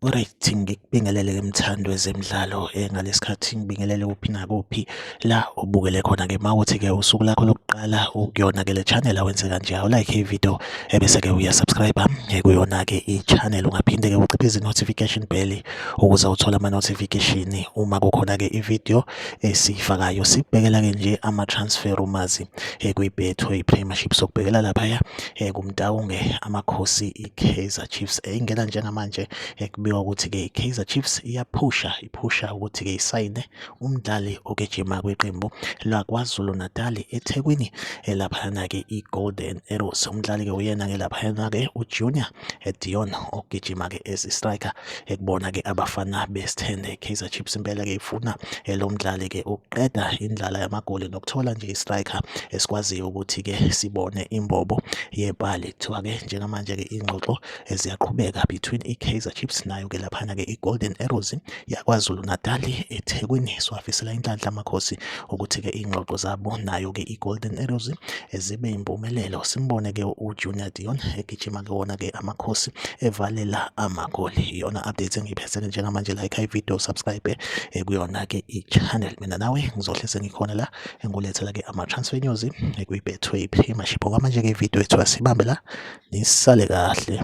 Alright, ngikubingelele ke mthandi wezemidlalo eh, ngalesikhathi ngibingelele kuphi nakuphi la ubukele khona ke mawuthi ke usuku lakho lokuqala ukuyona ke le channel awenze kanje awu like i video ebese eh, ke uya subscribe eh, kuyona ke i channel ungaphinde ke uciphe izi notification bell ukuze uthole ama-notification uma kukhona-ke ividiyo esiyifakayo sikubhekela-ke nje ama-transfer rumors eh, kwi-betway premiership sokubhekela laphaya eh, kumtawunge amakhosi i-kaizer chiefs eyingena njengamanje eh, kubikwa ukuthi-ke i-kaizer chiefs iyaphusha iphusha ukuthi-ke isayine umdlali ogijima kwiqembu lakwazulu natali ethekwini laphayana-ke i-golden arrows umdlali-ke uyena-ke laphayana-ke ujunior Dion ogijima ke as striker ekubona ke abafana besithende Kaizer Chiefs impela ke ifuna lo mdlali ke ukuqeda indlala yamagoli nokuthola nje istriker esikwaziyo ukuthi ke sibone imbobo yepali kuthiwa ke njengamanje ke ingxoxo eziyaqhubeka between iKaizer Chiefs nayo ke laphana ke iGolden Arrows yaKwaZulu-Natal eThekwini siwafisela inhlanhla amakhosi ukuthi-ke iy'ngxoxo zabo nayo-ke i-Golden Arrows zibe yimpumelelo simbone-ke uJunior Dion egijima-ke wona-ke amakhosi evalela amagoli iyona update engiyiphethele njengamanje like ivideo subscribe eh, kuyona-ke i-channel mina nawe ngizohle sengikhona la engulethela-ke ama-transfer news eh, kwi-betway prima shipho kwamanje-ke ividiyo yethu asibambe la nisale kahle